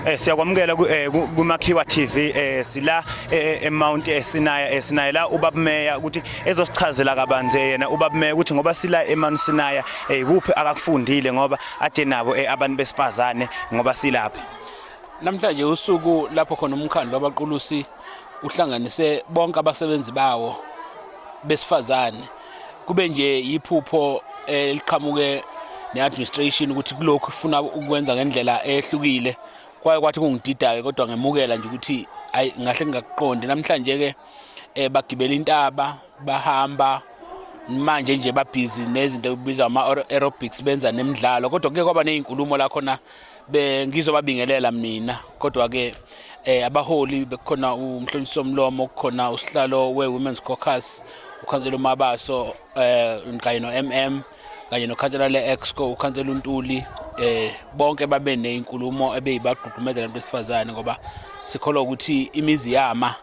Eh siyakwamukela ku eh, kuMakhiwa TV eh sila eh, eh, eMount eSinaya eSinaya la ubabumeya ukuthi ezosichazela kabanzi yena ubabumeya ukuthi ngoba sila eMount Sinaya eh kuphi akakufundile ngoba ade nabo abantu besifazane ngoba silapha Namhlanje usuku lapho khona umkhandlo wabaqulusi uhlanganise bonke abasebenzi bawo besifazane kube nje yiphupho eliqhamuke ne-administration ukuthi kulokhu ifuna ukwenza ngendlela ehlukile kwaye kwathi kungidida-ke kodwa ngemukela nje ukuthi ayi ngahle ngingakuqondi namhlanje-ke um bagibela intaba bahamba manje nje babhizi nezinto ekubizwa ama-aerobics benza nemidlalo kodwa kuke kwaba ney'nkulumo la khona bengizobabingelela mina kodwa ke eh abaholi bekukhona umhlonisi somlomo kukhona usihlalo we Women's Caucus ukhansela uMabaso eh kanye no MM kanye nokhansela le-exco ukhansela untuli eh bonke babe nezinkulumo ebeyibagqugqumezela abantu besifazane ngoba sikholwa ukuthi imizi yama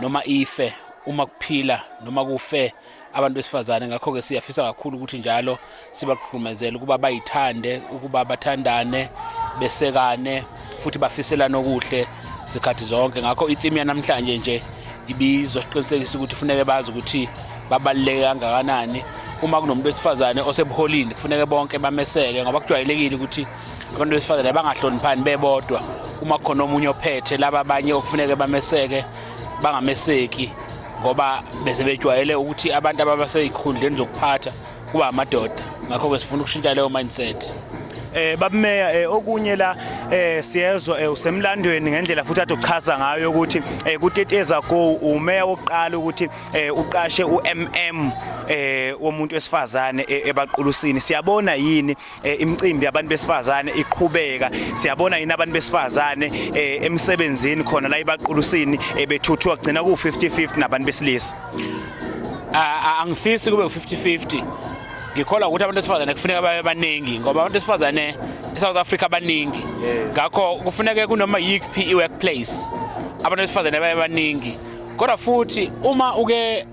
noma ife uma kuphila noma kufe abantu besifazane ngakho-ke siyafisa kakhulu ukuthi njalo sibagqugqumezele ukuba bayithande ukuba bathandane besekane futhi bafiselane okuhle zikhathi zonke ngakho itimu yanamhlanje nje ibizosiqinisekisa ukuthi kufuneke bazi ukuthi babaluleke kangakanani uma kunomuntu wesifazane osebuholini kufuneke bonke bameseke ngoba kujwayelekile ukuthi abantu besifazane bangahloniphani bebodwa uma khona omunye ophethe laba abanye okufuneke bameseke bangameseki ngoba bese bejwayele ukuthi abantu ababaseyikhundleni zokuphatha kuba amadoda ngakho-ke sifuna ukushintsha leyo mindset eh babumeya eh, okunye la eh siyezwa eh, usemlandweni ngendlela futhi athi uchaza ngayo ukuthi eh kuteteza go umeya wokuqala ukuthi eh uqashe uMM eh womuntu wesifazane eh, ebaqulusini siyabona yini Eh, imicimbi yabantu besifazane iqhubeka siyabona yini abantu besifazane eh, emsebenzini khona la ibaqulusini eh, bethuthuka kugcina ku 50-50 nabantu besilisa angifisi kube 50-50 ngikholwa ukuthi abantu besifazane kufuneka babe baningi ngoba abantu besifazane eSouth Africa baningi ngakho kufuneka kunoma yiphi iworkplace abantu besifazane babe baningi kodwa futhi uma uke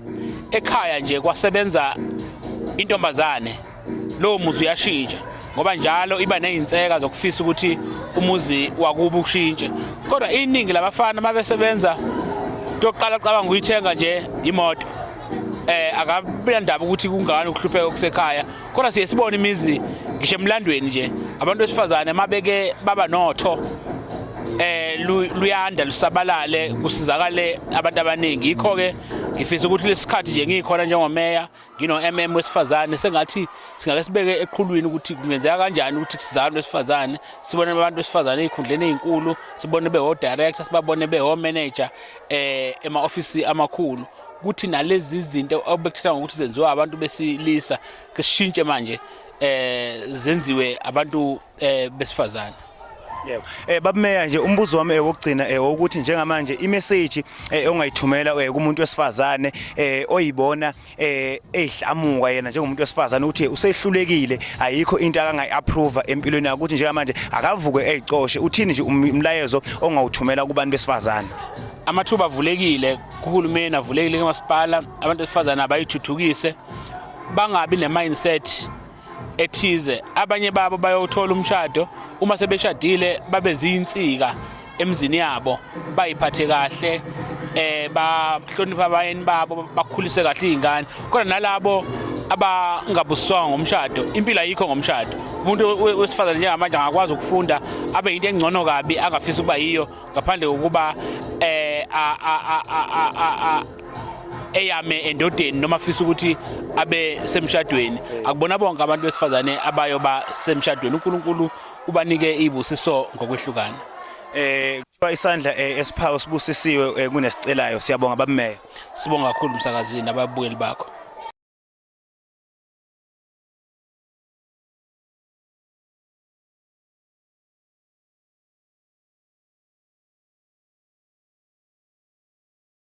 ekhaya nje kwasebenza intombazane lowo muzi uyashintsha ngoba njalo iba nezinseka zokufisa ukuthi umuzi wakuba ushintshe kodwa iningi labafana mabesebenza yokuqala cabanga uyithenga nje imoto eh akabila ndaba ukuthi kungani ukuhlupheka okusekhaya kodwa siye sibone imizi ngisho emlandweni nje abantu besifazane mabeke baba notho eh luyanda lusabalale kusizakale abantu abaningi yikho ke ngifisa ukuthi lesikhathi nje ngikhona njengomeya ngino-mm wesifazane sengathi singake sibeke eqhulwini ukuthi kungenzeka kanjani ukuthi kusizana besifazane sibone abantu besifazane ey'khundleni ey'nkulu sibone bewo-director sibabone bewo-manager um ema-ofisi amakhulu ukuthi nalezi zinto obekuthatha ngokuthi zenziwa abantu besilisa kushintshe manje um zenziwe abantu um besifazane Yebo. Eh babumeya nje umbuzo wami ewokugcina eh, ewokuthi eh, njengamanje imessage eh, ongayithumela eh, kumuntu wesifazane eh oyibona eh ehlamuka yena njengomuntu wesifazane ukuthi usehlulekile ayikho into akangayi approve empilweni yakhe ukuthi njengamanje akavuke ezicoshe uthini nje um, umlayezo ongawuthumela kubantu besifazane amathuba avulekile kuhulumeni avulekile kumasipala abantu besifazane abayithuthukise bangabi ne mindset ethize abanye babo bayothola umshado uma sebeshadile babe zinsika emzini yabo bayiphathe kahle eh bahlonipha abayeni babo bakhulise kahle izingane kodwa nalabo abangabuswanga ngomshado impilo ayikho ngomshado umuntu wesifazane njengamanje angakwazi ukufunda abe yinto engcono kabi angafisa ukuba yiyo ngaphandle kokuba eh eyame endodeni noma afisa ukuthi abe semshadweni akubona bonke abantu besifazane abayo ba semshadweni uNkulunkulu ubanike izibusiso ngokwehlukana eh kuthiwa isandla eh, esiphawu sibusisiwe eh, kunesicelayo siyabonga babumeyo sibonga kakhulu umsakazini ababuyeli bakho